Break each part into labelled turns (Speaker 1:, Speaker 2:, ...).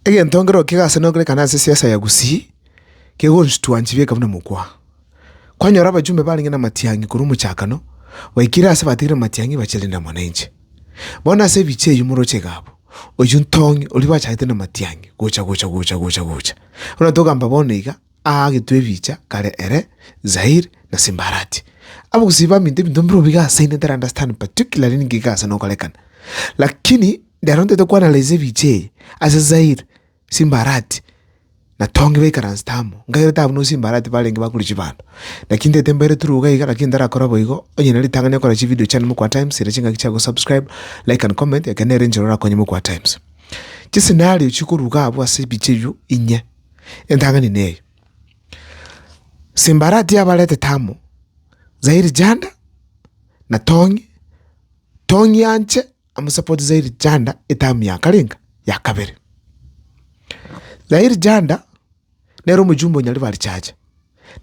Speaker 1: Egentongererio kigasaneugerekana ase siasa ya Gusii, kegonchutwa nchibieka buna mokwa. Kwanyora abachumbe barenge namatiang'i korwa omochakano, baikire aase batigire amatiang'i bachia rende amo nainche. Bono ase ebichie eyio moroche igabo, oyio ntong'i, oria bachagete namatiang'i, gocha gocha gocha gocha gocha. Buna togamba bono iga, Aagetwe ebicha kare ere, Zaire na Simbarati. Abagusii baminto ebinto bire obo iga ase inde ntari understand particularly ninki iga ase nokorekana. Lakini rero ntaete ko analyse ebicha eye ase Zaire, Simbarati na Tongi baikaransete amo. Nkaigwete abwo no Simbarati barenge bakure chibando. Naki ntaete mbere through iga iga lakini ntarakore boigo. Onye na ritang'ani okore chi video chane mokwa times ere chingaki chia go subscribe, like and comment ekero nere enchera orakonye mokwa times. Chi scenario chikoruga abwo ase ebicha ebio inye. Entang'ani neye, Simbarati abaretete amo, zairi janda, na tongi, tongi anche amosapote zairi janda etamu ya karenga ya kabere. Zairi janda nere omojumbe o Nyaribari chacha,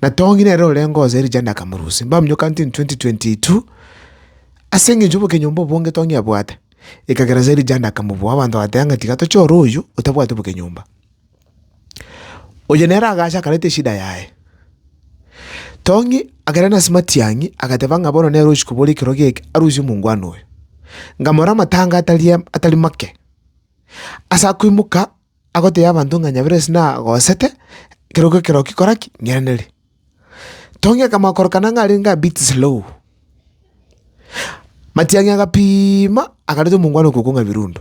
Speaker 1: na tongi nere orenge oo zairi janda akamorusia. Mbaminyoka county in 2022, ase eng'encho y'obokenyomba obonge tongi abwate, ekagera zairi janda akamoboa, abanto bagateba ng'a tiga tochore oyio otabwati obokenyomba. Oyo nere agacha akareta eshida yaye. Tong'i agera nase matiang'i agateba ng'a bono nere ochiko bore ekero geke arusie omongwana oyo. Nkamorora amatanga atari am- atari make. Asa koimoka agotebi abanto ng'a Nyaburesi nagosete, ekero goika ekero kikora ki? Ng'irenere. Tong'i akamanya korokana ng'a arenge a bit slow. Matiang'i agapiima akareta omongwana okwo okong'a birundu.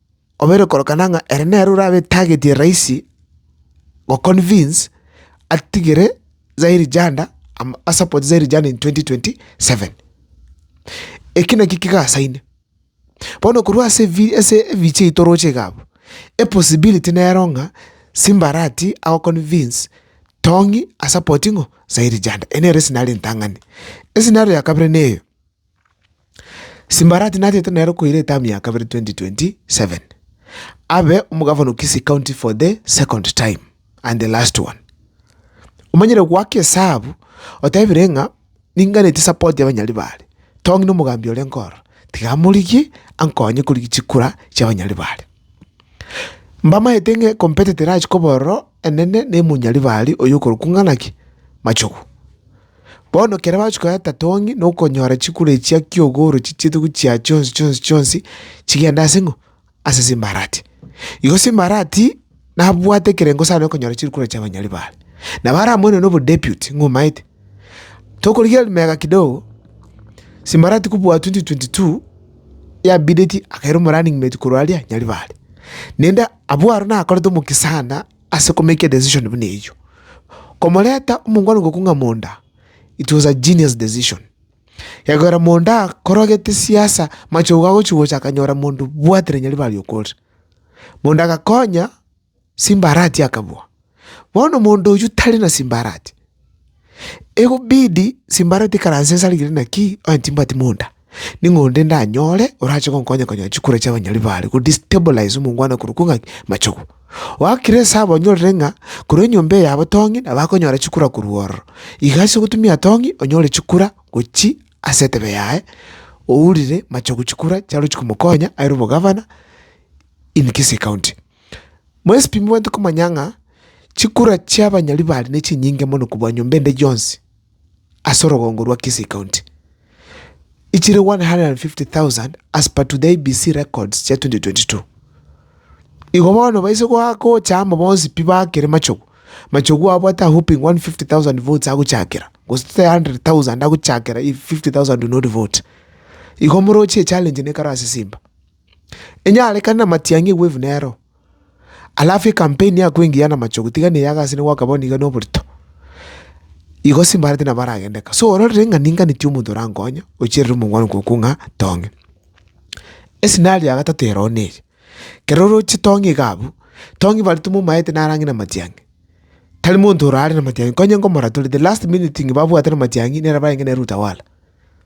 Speaker 1: obeire korokana ng'a ere nere orabe tagetie rahisi goconvince atigere Zaire Janda ama asupport Zaire Janda in twenty twenty seven. Eki nakio kigasaine, bono korwa ase ebi ase ebichie ebi toroche iga abwo, epossibility nero ng'a Simba arati agoconvince Tong'i asupport ng'o? Zaire Janda. Eye nere esinari entang'ani. Esinari ya kabere na eye, Simbarati natete nere koira etamu ya kabere 2027 abe omogavana o Kisii County for the second time and the last one. Omanyire goaka esabu otebire ng'a ninganetie support ya abanyari bare. Tong'i na omogambi ore nkoro tiga amorigie ankonye korigia chikura chia abanyari bare. Mbamaete ng'a competitor achikoba ororo enene ne monyari bare oyo okorokwa ng'a naki? Machogu. Bono ekero bachia koyata tatong'i, na okonyora chikure echi chia ki'ogorochi chiaito gochia chionsi chionsi chionsi, chigende ase ng'o? Ase Simbarati. Igo Simbarati, nabwate ekerengo sana okonyora chikure chia abanyori baye. Nabo aramoirane obo deputy, ng'a omaete. Tokorigereria mega kidogo, Simbarati kobua twenty twenty two, yabideti akaira omorunning mate korwa aria Nyaribari. Naende abwo aro nakorete omokia sana. Ase komaker decision buna eyio, komoreta omongwana ngoku ng'a Monda, it was a genius decision. Ekegoera Monda akorogete siasa, machogo agochi gocha akanyora monto bwatire Nyaribari okorire. Monda agakonya Simbarati akabua. Bono monto oyio tari na Simbarati. egobidi simbara tikaranse inse rigirii naki onye timbwati monda, ning'o onde ndanyore orache gonkonya konya chikura chia abanyori bare go destabilize omongwana okorwa kwo ng'aki machogu. Oakire esaba onyorire ng'a korwa enyomba eye yabo tong'i nabo akonyora chikura korwa ororo. Iga ase ogotumia tong'i onyore chikura gochia ase entebe yaye ourire machogu chikura chiarwe chikomokonya aire obogavana in Kisii County. Mwensi timobwenerete komanya ng'a chikura chi'abanyari bare nechinyinge mono kobua nyomba ende yonsi ase orogongo rwa Kisii County, echire 150,000 as per to the IEBC records chia 2022. Igo bono baise goa gocha amo bonsi pi baakere machogu, machogu abo at a whooping 150,000 votes agochakera, gose tote 100,000 agochakera if 50,000 do not vote. Igo moroche echallenge nekaro ase Simba. Enyarekane namatiang'i egwevu nero. Alafu ekampeni ya koengiya namachogu tiga neye agase nigo akaba niga noborito. Igo simbareti nabo aragende kaa. So ororire ng'a ninga nitie omonto orankonye ocherere omongwana okoku ng'a tong'e. Escenario ya gatato ero nere, kero oroche tong'e iga abwo, tong'e barito momaete naro ang'e namatiang'i. Tari monto orare namatiang'i, konye nkomoratoria the last minute ng'a babwate namatiang'i nere abarenge nere utawala.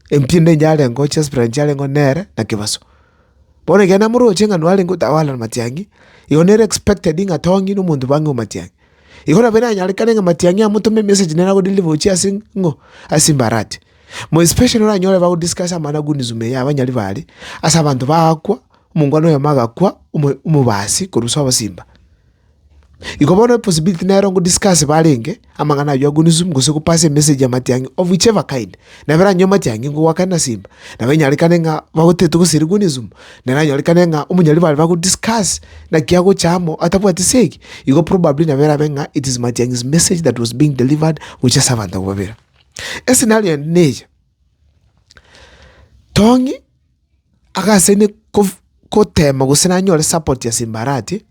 Speaker 1: Empinda enyarengeo chiasipirani echiarengeo nere na kebaso. Bono ekiagera namoroche ng'a narenge otawala na matiang'i, igo nere expected ng'a tong'i na omonto bang'e omatiang'i. Igo nabo eranyarekane ng'a matiang'i amotome emessage nere ago deliver gochia ase ng'o? Ase imbarati. More especially oranyore bago discuss amanagonism ya abanyari bare, ase abanto bagakwa, omongwana oyomo agakwa, omo omobasi korwa ase obosimba. Igo bono eposibiti nero ngodiscase barenge amang'ana ayio agwo newsroom gose gopasa emessage amatiang'i of which ever kind. Nabera anywo amatiang'i ngogoakane na simba, nabo enyarekane ng'a bagoteta ogoseri gwe newsroom, naranyorekane ng'a omonyari bare bagodiscase naki agocha amo atabwati ase eki, igo probably nabo erabe ng'a it is matiang'i's message that was being delivered gocha ase abanto abwo babere. Escenario ende neya, Tong'i. Agase inde kof- gotema gose nanyore support ya Simbarati,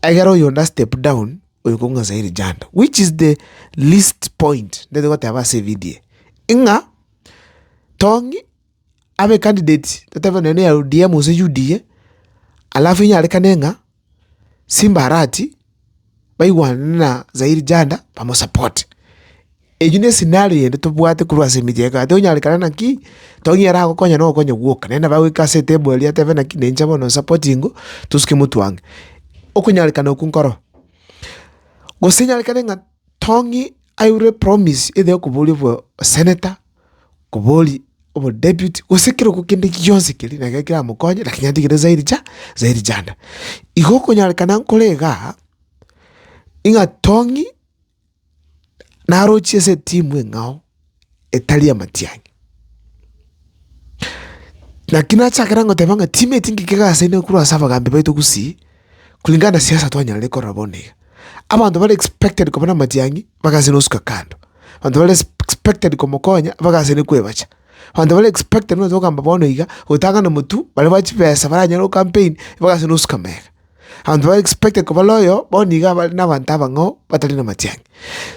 Speaker 1: egere oyonde a step down oyo kong'u Azael Janda, which is the least point ndete goteba ase evidio eye, ing'a Tong'i abe candidate totebe nonye na ya ODM gose UDA, alafu inyarekane ng'a. Simba Arati baigwane na Zairi Janda bamosapote. Eyio ne scenario eyende tobwate korwa ase emechie ya ekate, onyarekane naki, Tongi aragokonya na ogokonya gwoka, naende nabo agoika ase etable eria atebe naki na inche bono nsapotingwe, tosuke motwang'e. Okonyarekana okwo nkoro, gose nyarekane ng'a. Tong'i airwe promise either okobori obo senator, okobori obo deputy gose kero ko kende gionsi keri na ekero kera mokonye lakini atigere zairi ja zairi janda. Igo okonyarekana nkore igaa, ing'a Tong'i narochie ase etimu eng'ao. etari amatiangi. Naki nachakera ngoteba ng'a timeti ngikega ase ene korwa ase abagambi baito gusii, kulingana na siasa twanyarire korora bono iga. Abanto bare expected koba namatiangi, mpaka ase nosuka kando. Abanto bare expected komokonya, mpaka ase ne kwebacha. Abanto bare expected nonya togokamba bono iga, gotang'ana motwe, baria ba chibesa baranyare gocampaign, mpaka ase nosuka mega. Abanto ba expected koba loyal bono nigo abare nabanto abang'ao batari namatiang'i.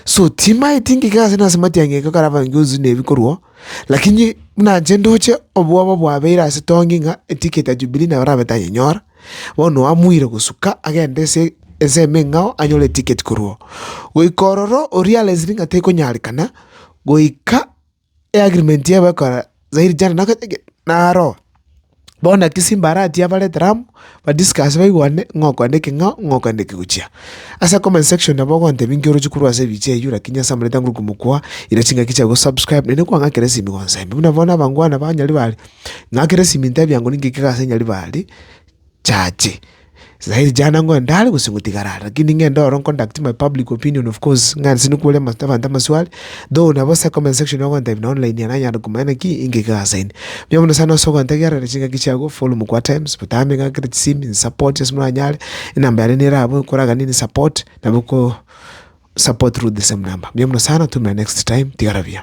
Speaker 1: So timaeti ngika gose nase matiang'i ekero kare abaminto tonsi na ebikorwa, lakini buna inche ndoche obwoba bwabeire ase tongi ng'a eticket ya Jubilee nabo rabe tanyenyora, bono amuire gosuka agende ase ensemo eng'ao anyore eticket korwa oo. Goika ororo oria aresi ng'a tekonyarekana goika. eagrimenti yabo ekora zairi chane na gete gete naro bono naki Simba aratie abare etaramu badiscusse baigwane ng'a okoenda eke ng'a ng'a okoenda eke gochia. Ase comment section nabo ogontebia nki oroche korwa ase ebiche eyio rakini ase amanyete nguru komokwa ira chingaki chiago subscribe naende kwang'akera esimi gonsembia. Buna bono abangwana ba Nyaribari, ng'akera esimi ntebi angori ngika iga ase Nyaribari. Chache. Sairi chana ng'o ndare gose ngotigara are lakini ng'ende oro nconduct my public opinion of course ng'a nse nikwore ama- abanto amaswali though nabo ase comment section ogontebia na online ere anyare komanya naki inki kegasaini. Mbuya mono sana ase ogontegerera chingaki chiago forum kwa times botambe ng'akere chisimi nsupport ase moranyare enamba yane nere abwo ekoragane ni support nabo ko support through the same number. Mbuya mono sana to my next time tigara buya.